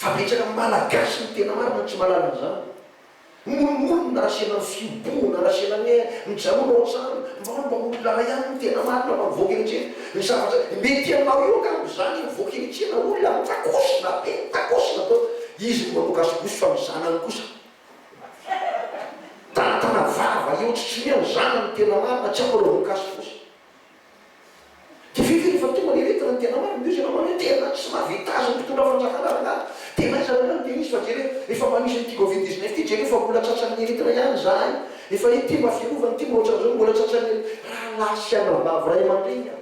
Speaker 1: Fa betsaka amin'ny malagasy no tena marina tsy mahalala an'izany. Mora mora ny nasiana ny fihobohana nasiana ny air mijanona ao an-trano mba hoe mba olona iray ihany no tena marina mba mivoaka eny an-tsena ny zavatra mety aminao io angamba izany mivoaka eny an-tsena olona mitakosona be mitakosona atao izy no manao gasikosy fa ny zanany kosa tanatana vava eo tsy tsy hoe ny zanany no tena marina tsy ampanaoviny gasikosy. Dia ve efa efa tonga le lettre ny tena marina? Ndrisy ianao manao hoe tena tsy mahavita azy ny mpitondra fanjakana rangahy. Tena aiza lalao ny Denise fa jereo efa manisy an'ity covid dix neuf ity jereo fa mbola tratran'ny heritre ihany izahay. Efa ity mba fiarovana ity mba ohatran'izao no mbola tratran'ny heritre. Rahalahy sy anabavy ray aman-dreny a!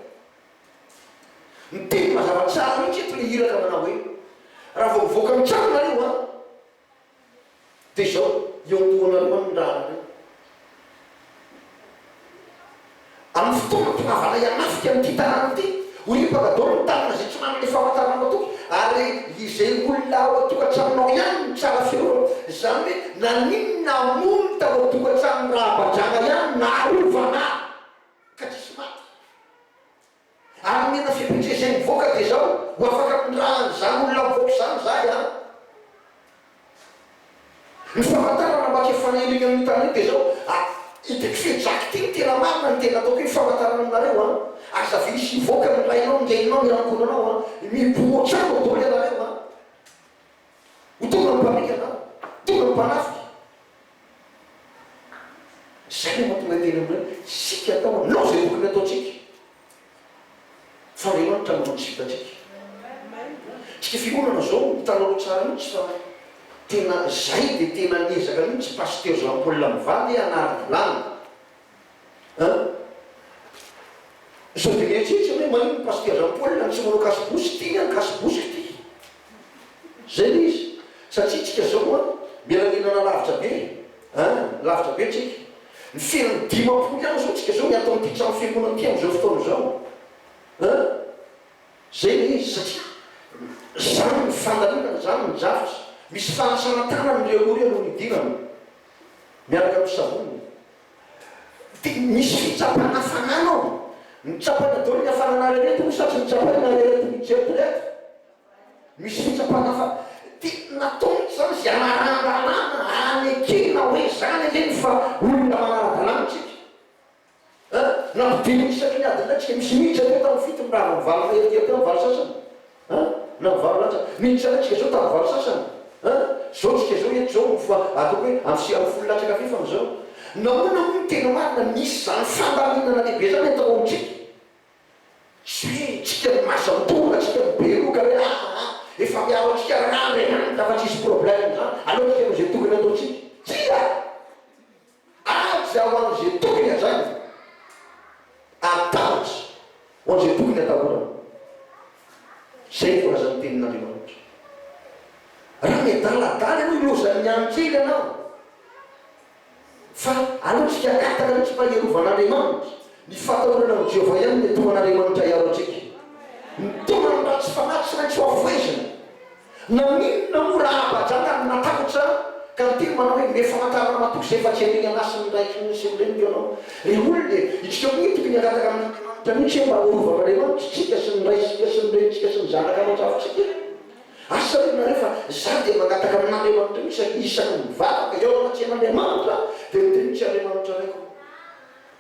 Speaker 1: Miteny mazava tsara mihitsy eto le iraka manao hoe raha vao mivoaka ny tranonareo a! Dia izao, eo am-povoanareo any ny rahareo. Amin'ny fotoana tongavanay hanafika an'ity tanàna ity, ho ripaka daholo ny tanana izay tsy manana ny famantarana matoky, ary izay olona ao an-tokantranonao ihany no tsara fihaonana. Izany hoe naninona hamono tao an-tokantranon'i Rahabadrana ihany no naharovana ka tsisy maty? Ary ny hena fepetra izay mivoaka dia izao, ho afaka miraha an'izany olona mivoaka izany izahay an! Ny famantarana mba ke faneno eny amin'ny tanety dia izao, ah, hitako fe Jack ty no tena marina, ny tena ataoko io famantarana aminareo an! Aza ve hisy hivoaka ny lainao, ny reninao, ny ankohonanao an! Miboho hatrany ao daholo ianareo an! Ho tonga ny mpandika anao, ho tonga ny mpanafika. Izay no mahatonga tena amin'ireo hoe isika atao hanao izay tokony hataontsika fa Andriamanitra manao ny sipantsika. Isika fiangonana izao hitanareo tsara mihitsy fa tena izay dia tena niezaka mihitsy Pasitera Jean Paul mivady hanara-dalàna Sao dia mieritreritra hoe manino ny Pasitera Jean Paul raha ny tsy manao kasobosy, tiany an kasobosy kty. Zay le izy. Satria tsika zao an, miara niainana lavitra be an, lavitra be tsika. Ny fiainan'ny dimampolo ihany zao tsika zao ny ato amin'ity trano fiangonana ity amin'izao fotoana izao an. Zay le izy satria zany ny fandalinana, zany ny drafitra. Misy fanasana tanana ireo aloha ireo no nidinana miaraka amin'ny savony. Dia misy fitsapana fanana ao. Mitsapana daholo ny hafananareo moa satry nitsapaina ianareo nijery teo ireto. Misy fitsapana fa dia natao mihitsy izany izay hanaran-dalàna hanekena hoe izany ve ny fa olona manara-dalàna isika. An! Nampidirina isaky ny adin'iraika isika. Misy mihintsy hatreto amin'ny fito mirava mivaly fahery kely teo amin'ny valo sasany. An! Nao valo lanja. Mihintsy anay tsika zao tamin'ny valo sasany. An! Zao tsika zao eto zao no fa ataoko hoe amin'ny sira folo latsaka fefany izao. Nahoana moa no tena marina misy izany fandaminana lehibe zany atao amintsika? Zay e, tsika no mazan-doha, tsika no be loka hoe aa aa efa miaro antsika rariny any ka fa tsisy problème zany, aleo tsika manao izay tokony ataontsika. Tsia! Ady ao amin' izay tokony hajaina, ary tahotra ho an'izay tokony hatahorana. Izay ny voalazan'ny Tenin' Andriamanitra. Raha miadaladala ianao, ilozan'ny ihany kely ianao. Fa aleo tsy hiakataka mihitsy fa hiarovan' Andriamanitra. Ny fatahorana amin'i Jehovah ihany no mety ho an'Andriamanitra hiaro antsika. Ny taoman'ny ratsy fanahy tsy maintsy hohafohezina. Naninona moa raha Abajana no natahotra ka niteny manao hoe mety famantarana ramatoa izay fa tsy hainao ianasy ny raiky ny sy ny reniny ianao? Ry olona e, itsika koa tokony hangataka amin'Andriamanitra mihitsy hoe mba horovan'Andriamanitra itsika sy ny raintsika sy ny renintsika sy ny zanaka ao an-trafontsika e! Asa ry nareo fa za dia mangataka amin'Andriamanitra mihitsy isaky ny mivavaka eo anaty tsen'Andriamanitra dia miteny mihitsy Andriamanitra Raiko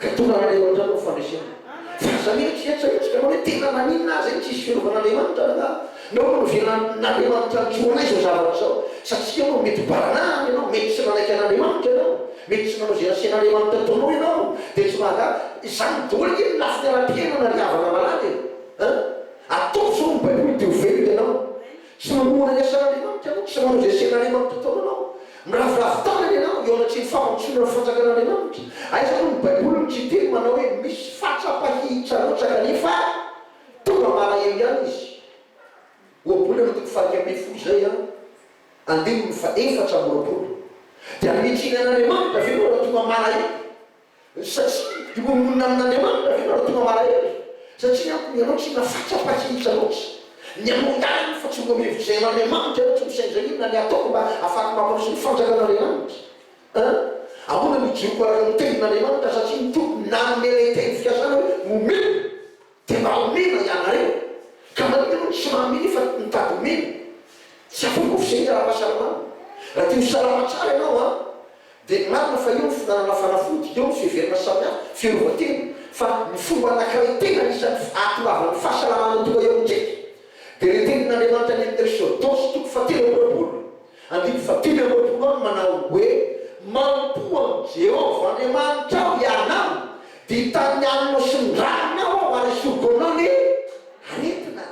Speaker 1: Ka tonga any aloha hatrany ny fandresena. Fa aza mihetsiketsika mihitsy ianao hoe tena maninona ary izay no tsy hisy firovan'Andriamanitra ve angaha? Nao no novelan'Andriamanitra nijoro anay izao zavatra izao. Satria ianao mety baranahiny ianao, mety tsy nanaiky an'Andriamanitra ianao, mety tsy nanao izay nasen'Andriamanitra hataonao ianao, dia tsy mahagaga. Izany daholo ange ny lafiny ara-piainana ry havana malala e! Ataovy izao ny Baiboly dia ho velona ianao. Tsy mamoana ny asan'Andriamanitra ianao, tsy manao izay asian'Andriamanitra atao anao. Miraviravy tanana ianao eo anatrehan'ny fampandrosoana ny fanjakan'Andriamanitra. Aiza moa ny Baiboly no tsy hiteny manao hoe misy fatsapahihi-tsarotsaka nefa tonga malahelo ihany izy. Ohabolana ny toko fahaika ambin'ny folo izay an, andininy faha efatra amby roapolo. Dia hanitsiana an'Andriamanitra ve ianao raha tonga malahelo? Satria ireo monina amin'Andriamanitra ve nareo tonga malahelo? Satria ampony ianao tsy hina fatrapakihitra loatra. Ny anao ihany fa tsy mbola mihevitra izay ain'Andriamanitra ianao tsy misainza inona ny hataoko mba hahafahako mampandroso ny fanjakan'Andriamanitra. An! Ahoana no hijoroko araka ny tenin'Andriamanitra satria ny Tompo nanome ilay teny fikasana hoe omeo. Dia mba omena ianareo. Ka nareo ve no tsy mahaminy fa mitady omena? Tsy afaka ho fisehiny ara-pahasalamana. Raha te ho salama tsara ianao an! Dia marina fa eo ny finanana fanafody, eo ny fiheverana samihafa, fiarovan-tena. Fa ny fomba anankiray tena anisan'ny ahatongavan'ny fahasalamana tonga eo amintsika dia ilay tenin'Andriamanitra any amin'ny Eksôdosy toko fahatelo amby roapolo, Andininy fahatelo amby roapolo aminy manao hoe, Mampo an'i Jehovah Andriamanitrao hianao, dia hitany ny alina sy ny rariny aho aho, ary esory goaninao ny aretina.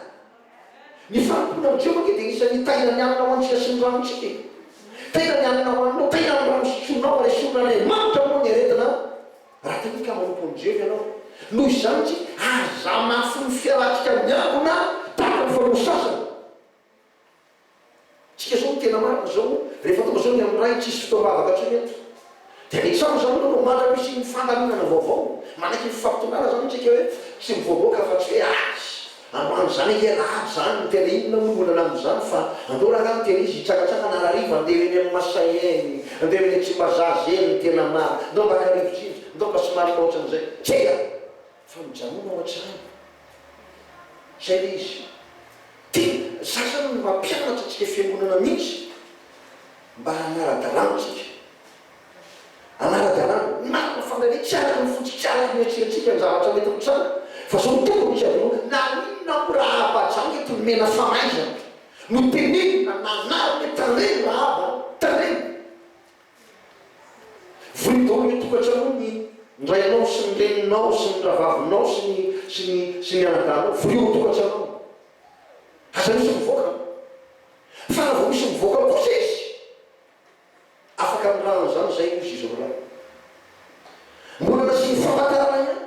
Speaker 1: Ny fanompoana amin'i Jehovah ange dia anisan'ny hitahina ny alina ho antsika sy ny rarintsika e! Tahina ny alina ho aninao, tahina ny rano sotroinao, ary esorin'Andriamanitra moa ny aretina raha te hika manompo amin'i Jehovah ianao. Noho izany, tsy aza hamafy ny fiarahantsika miangona tahaka ny fanao sasany. Tsika zao tena marina zao rehefa tonga zao ny am ray tsisy fotoam bavaka tsony eto de ny trano zany aloha no mandram pisian ny fandaminana vaovao manaiky ny fifampitongana zany tsika hoe tsy mivoaboaka afa tsy hoe azy androany zany ange ra avy zany ny tena inona moa ny olana amin zany fa andao rangah miteny izy hitsakatsakana ra hariva andevo eny am masay eny andevo eny tsimbazaza eny ny tena marina ndao mba ka rivotra indry ndao mba somary mahotran zay tsia! Fa mijanona ao an-trano. Izay ilay izy. Tena, izany izany no mampianatra antsika fiangonana mihitsy, mba hanara-dalàna antsika. Hanara-dalàna. Ny marina fa indraindray tsy araka ny fontsika, tsy araka ny eritreretintsika ny zavatra mety mitranga. Fa izao no tiako amintsika voalohany, na inona moa Rahaba aza mety nomena famaizana, notenenina, nanarina hoe tandremo Rahaba a, tandremo. Voidor ny tokantranonao, ny rainao sy ny reninao sy ny ravavinao sy ny sy ny sy ny anadahinao, voidor ny tokantranonao. Aza misy mivoaka ao. Fa raha vao misy mivoaka ao kosa izy, afaka mirahana izany izay hozy izy roalahy. Mbola nasiany famantarana ihany.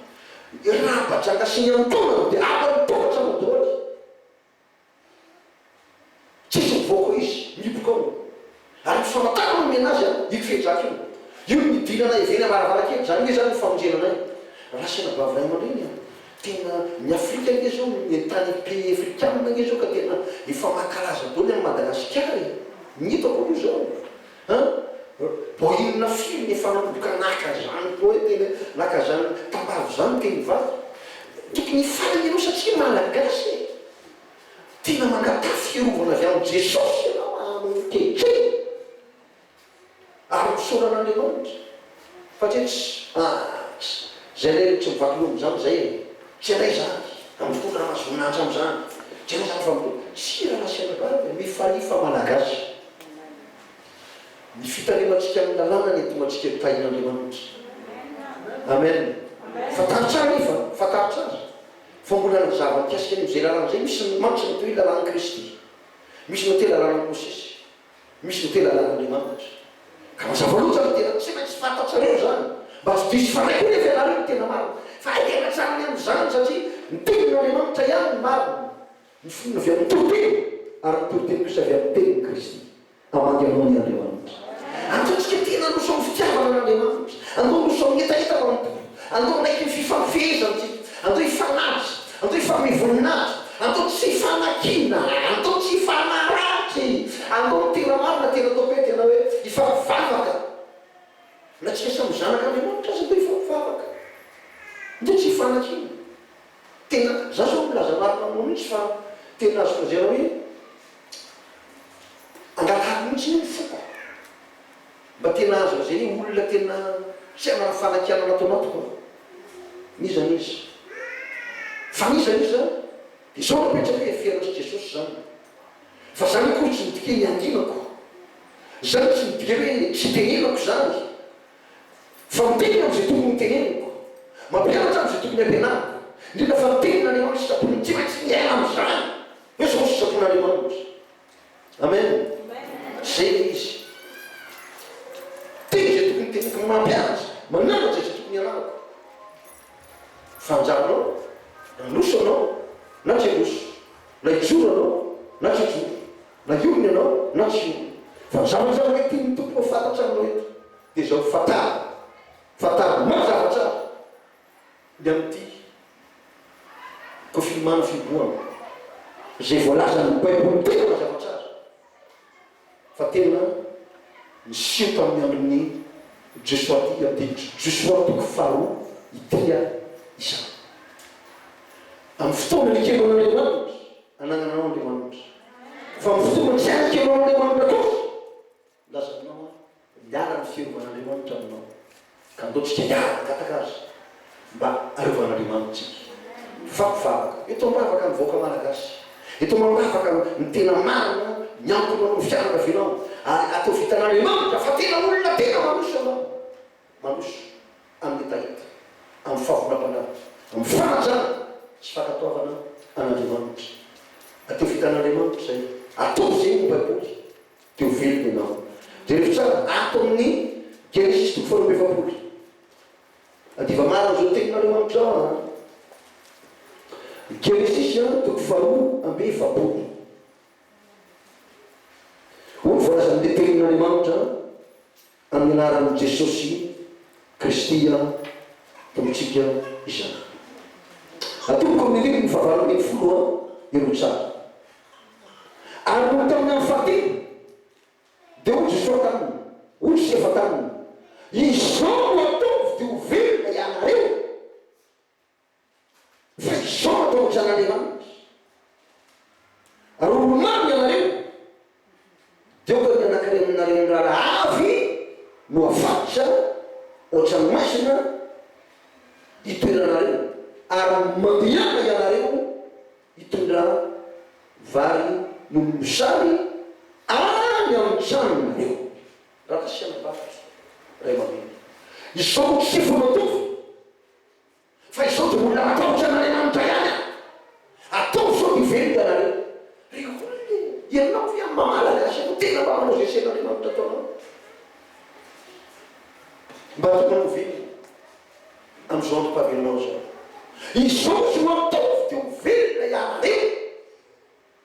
Speaker 1: Ny rahampajaka sy ny antonony dia haka ny tohatra no dôly. Tsisy mivoaka hoy izy, mihiboka ao. Ary ny famantarana no omena azy an, io fehidraka io. Io no nidirana avy eny am-baravarankely. Izany hoe izany no famonjena anay. Raha sendra vavy ray aman-dreny an, tena ny Afrika ange izao, ny tany pays afrikanina ange izao ka tena efa mankalaza dôly an'i Madagasikara e. Ny hitako aloha izao. An! Vao inona firy ny efa nanomboka naka izany poety eny an! Naka izany tambavy izany ny teny vavy. Tokony hifaly ianao satria Malagasy e! Tena mangatà fiarovana avy amin'i Jesosy ianao ankehitriny ary misaoran'Andriamanitra. Fa tsy etsy ax zay le tsy mivaky lova mizany zay e! Tsy anay zany a mitondra raha mahazo voninahitra amizany! Tsy anay zany fa mitondra sira nasiana vary de mifalia fa malagasy! Ny fitalemantsika amin'ny lalàna ny adimantsika no tahin'Andriamanitra! Amen! Fantaro tsara io fa fantaro tsara fa mbola nazava mikasika an'io! Zay lalàna zay misy ny mantsy mitohy lalàn'i Kristy! Misy mitohy lalànan'i Mosesy! Misy ny tena lalan'Andriamanitra. Ka mazava loatra ny tena tsy maintsy fantatrareo izany, mba tsy diso fanahy koa nefa ianareo ny tena marina. Fa hay tena tsara ny amin'izany satria ny tenin'Andriamanitra ihany no marina. Ny finoana avy amin'ny toriteny ary ny toriteny kosa avy amin'ny tenin'i Kristy. Hamangy anao anie Andriamanitra. Andao tsika tia nandroso amin'ny fitiavana an'Andriamanitra. Andao handroso amin'ny hetaheta manontolo. Andao hanaiky ny fifampifehezantsika. Andao hifanaja. Atao hifanome voninahitra, atao tsy hifanakiana, atao tsy hifanaratsy, atao ny tena marina, tena tao hoe tena hoe hifampivavaka. Na tsika samy zanak'Andriamanitra aza atao hifampivavaka. Atao tsy hifanakiana. Tena, za zao milaza marina aminao mihitsy fa tena azoko lazaina hoe angatahako mihitsy ny foko. Mba tena aza zay olona tena tsy hanana fanakianana ato anatiko an! N'iza n'iza. Fa n'iza n'iza dia zao no apetrako hoe eferina sy Jesosy zany. Fa zany akory tsy midika hoe niankinako. Zany tsy midika hoe hitenenako zany. Fa miteny aho izay tokony hoteneniko. Mampianatra aho izay tokony hampianariko. Indrindra fa ny tenin'Andriamanitra sy Sabonin'i tsy maintsy miaina amin'izany hoe zao ny sitrapon'Andriamanitra. Amen. Zay le izy. Tena zay tokony ho tena mampianatra. Mananatra izay tokony ianarako. Fanjanao, nanoso ianao, na tsy hanoso. Na hijoro ianao, na tsy hijoro. Na hiorina ianao, na tsy hiorina. Fa ny zavatra iray tian'ny Tompo ho fantatra aminao eto, dia izao, fantaro. Fantaro mazava tsara. Ny amin'ity Confinement fihibohana izay voalazan'ny baiboly tena mazava tsara fa tena niseho tamin'ny andron'i Josoa ity andinitry Josoa toko faharoa ity ary izany amin'ny fotoana nekenao Andriamanitra anananao Andriamanitra fa amin'ny fotoana tsy anekenao Andriamanitra kosa Lazainao aho miala ny firovan'Andriamanitra aminao ka andaontsika hiala hangataka azy mba arovan'Andriamanitra tsika. Mifampivavaka. Eto mivavaka ny vahoaka Malagasy. Eto mambavaka ny tena marina miankina amin'ny fianakavianao ary atao vitan'Andriamanitra fa tena olona tena mandroso ianao. Mandroso amin'ny hetaheta, amin'ny fahavonam-panahy, amin'ny fanajana sy fankatoavana an'Andriamanitra. Atao vitan'Andriamanitra izay. Ataovy izay hoy ny Baiboly. Teo velona ianao. Jereo tsara, ato amin'ny Genesisy toko faharoa amby efapolo. Adiva maro an'izao teninareo mamintrao an. Genesisy an, toko faharoa amby efapolo. Hoy ny voalazan'ny tenin'Andriamanitra an. Amin'ny anaran'i Jesosy Kristy Tompontsika izany. Atoloko amin'ny liliny fahavalo ambin'ny folo ireo tsara. Ary noho tamin'ny andro fahatelo, dia hoy Jesoa taminy, Hoy i Sefa taminy, Izao no ataovy, dia ho velona ianareo. Fa izao no ataon'ny Zanak'Andriamanitra, Raha olomamy ianareo, dia aoka ny anankiray aminareo mirara avy no hafatsa hoatran'ny maizina itoeranareo, ary mandehana ianareo hitondra vary noho ny sary any amin'ny tranonareo. Raha nasiana vary iray aman-dreny, izao no tsy efa nataovy. Fa izao dia mbola matahotra an'Andriamanitra ihany an! Ataovy sao dia very hitanareo. Ry olona e! Ianao ve amin'ny maha Malagasy anao tena mba manao izay asain'Andriamanitra ataonao? Mba tianao ho velona amin'izao androm-pahavelomana izao? Izao izy no ataovy dia ho velona ianareo.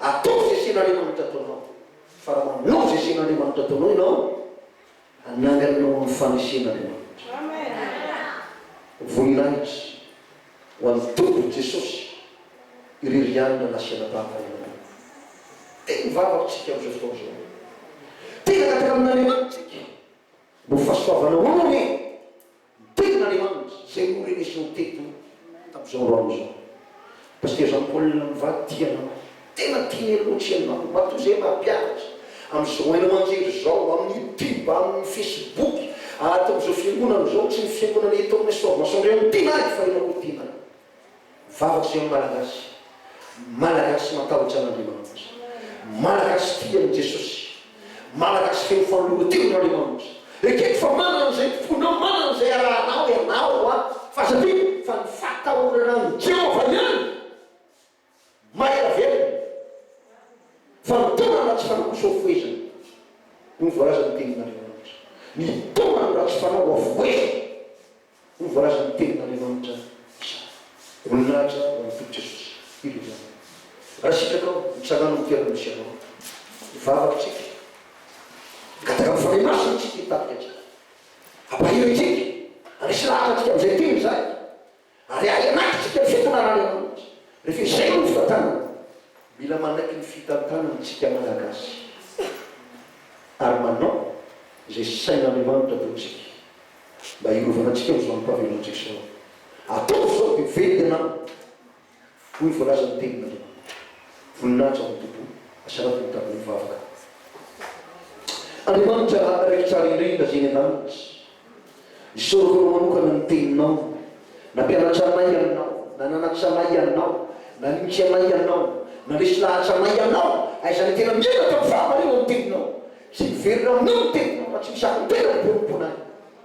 Speaker 1: Ataovy izay sehin'Andriamanitra ataonao, fa raha manao izay sehin'Andriamanitra ataonao ianao, hanangana anao amin'ny fanesen'Andriamanitra. Voninahitra ho an'ny Tompo Jesosy irery ihany raha nasiana tahaka ianareo. Dia ny vavaka tsika amin'izao fotoana izao hoe, Te hangataka amin'Andriamanitra tsika mba ho fahasoavana hono anie. Ny tenin'Andriamanitra izay norenesinao teto tamin'izao androany izao. Pasteur Jean Paul mivady tia anao. Tena tiany aloha tsy ianao. Matoa izay mampianatra. Amin'izao haino aman-jery izao, amin'ny youtube, amin'ny facebook, ary tamin'izao fiangonana izao, tsy ny fiangonana eto aminay Soavimasoandriana no tianay fa ianao koa tianay. Vavaka Sion Malagasy, Malagasy matahotra an'Andriamanitra, Malagasy tia an'i Jesosy, Malagasy feno fanoloran-tena an'Andriamanitra, ekeko fa manana an'izay ny fonao, manana an'izay arahanao ianao, fa aza adino fa ny fahatahorana an'i Jehovah ihany. Maira velona fa ny taona ratsy fanao kosa ho foezina hoy ny voalazan' ny tenin' Andriamanitra. Ny taona ny ratsy fanao ho afohezina hoy ny voalazan' ny tenin' Andriamanitra izany. Voninahitra ho an' i Tompo Jesosy. Ireo ihany. Raha sitrakao, mitsanganao ny toerana misy anao. Mivavaka isika. Migataka amin' ny Fanahy Masina isika hitarika antsika. Ampahireo isika. Anisy lahatra antsika amin' izay teny izay. ary ahy anaty isika ny fitondrana any ambony rehefa izay no nofitantanana mila manaiky ny fitantanana isika malagasy ary manao izay sain'Andriamanitra ataontsika mba hiarovana antsika amin'izao amim-pahavelomantsika izao ataovy izao dia very ianao Hoy voalaza ny tenin'Andriamanitra, Voninahitra ho an'ny Tompo, asaraty ny tany mivavaka. Andriamanitra raiky tsara indrindra izay eny an-danitra, isaorako Anao manokana ny Teninao, nampianatra anay Ianao, nananatra anay Ianao, nanitsy anay Ianao, nandresy lahatra anay Ianao, aiza ny tena miaina tamin'ny fahamarinan'ny Teninao? Tsy miverina aminao ny Teninao raha tsy misakambena ny ponomponay.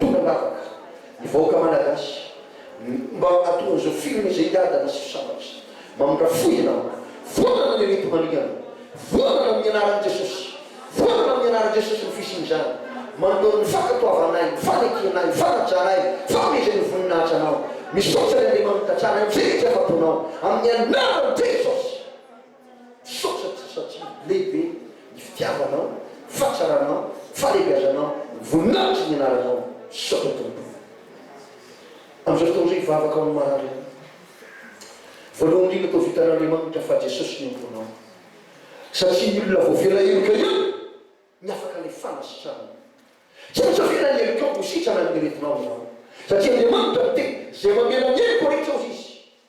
Speaker 1: Tonga ambavaka ny vahoaka Malagasy mba hahatonga izao film izay hiadana sy hisambatra izay. Mamindrafo fo ianao. Vonona ny hety maningana. Vonona amin'ny anaran'i Jesosy. Vonona amin'ny anaran'i Jesosy ny fisian'izany. Manoloana ny fankatoavanay, ny fanekenay, ny fanajanay, fahamehezn'ny voninahitra Anao. Misaotra ry Andriamanita, Tsara indrindra afa-ponao. Amin'ny anaran'i Jesosy. Misaotra Atsy satria lehibe ny fitiavanao, fahatsaranao, fahalebiazanao, voninahitry ny anaranao, misaotra Tompo amin'izao fotoana izao hivavaka ho an'ny marary any. Voalohany indrindra toa vitan'Andriamanitra fa Jesosy ny antonao satria ny olona voafera heloka ihany ny afaka ilay fanasitranana. Tsy maintsy afera ny helokao ho sitrana ny aretinao izany satria Andriamanitra miteny izay mamela ny heloka rehetra hozy Izy.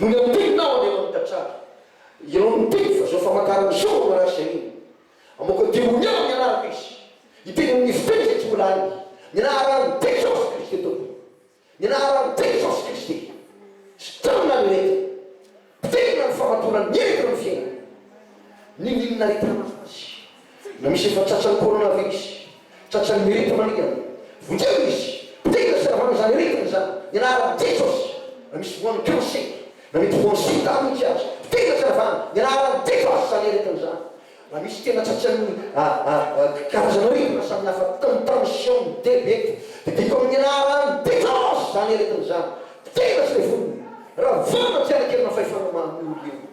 Speaker 1: no niantenaho any aman tantara ianao no niteny fa zao famantarana zao no marary zay iny amoaka demonia ao nianarako izy hiteny amin'ny fiteny zay tsy mbola hainy mianara ny teny jesosy kristy tompoko mianara ny teny jesosy kristy sitrano na ny aretina potehina ny famatorany ny aretina ny fiainana n'inon'inona aretina mahazo azy. Na misy efa tratran'ny corona ve izy? Tratran'ny mirety maningana? Vonjeo izy! Potehina sy ravana izany aretina izany, ny anaharan'i Jesosy! Na misy voan'ny cancer, na mety voan'ny sida mihitsy aza, potehina sy ravana, ny anaharan'i Jesosy izany aretina izany! Na misy tena tratran'ny karazana aretina samy hafa, toa ny tension, ny diabeta, dia diako amin'ny anaharan'i Jesosy izany aretina izany! Potehina sy levonina! Ravana tsy hanan-kerina fahefana maha-mioly eo!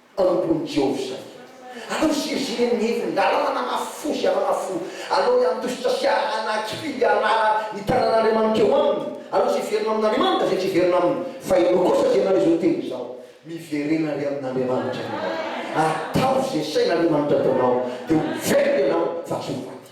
Speaker 1: Ambonin'i Jehovah izany. Aleo ziriziry amin'ny hevin-dalàna nanafy fo sy hanana fo. Aleo hiantositra sy hanakifidy hianara ny tanan'Andriamanitra eo aminy. Aleo izay hiverina amin'Andriamanitra, izay tsy hiverina aminy. Fa ianao kosa izay nanao izao teny izao, miverena re amin'Andriamanitra ianao. Ataovy izay sain'Andriamanitra ataonao, dia ho very ianao fa tsy ho maty.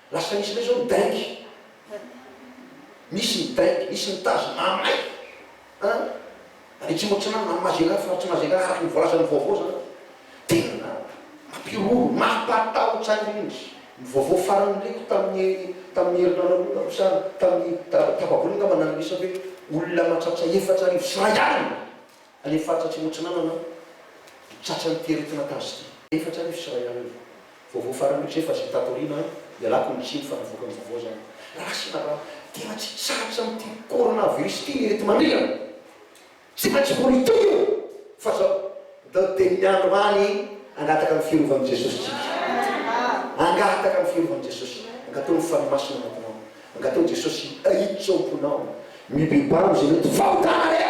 Speaker 1: Lasa misy indray zao ny dingue, misy ny dingue, misy ny tazo mamay an! Any atsimo atsinanana, any Mazera, faritra Mazera, araka ny voalazan'ny vaovao zany an! Tena mampiroro, mampatahotra indrindra! Ny vaovao farany nireko tamin'ny tamin'ny herinandro longany no sa tamin'ny talata tafavory angamba nanirisa hoe olona mahatratra efatra arivo sy iray alina! Any faritra atsimo atsinanana aho, tratra ny fieritana tazoky. Efatra arivo sy iray arivo. Vaovao farany io tsefa izay tato aoriana an, ialako ny tsiny fa navoaka ny vaovao izany. Raha sy na raha, tena tsy sarotra amin'ity coronavirus ity ny eto manerana. Tsy maintsy ho ritohy io fa izao da dia ny andro any hangataka ny firovan'i Jesosy tsika. Hangataka ny firovan'i Jesosy. Angatao ny Fanahy Masina anatinao. Angatao Jesosy hiditra ao am-ponao. Mibebano izay mety fahotana rehetra.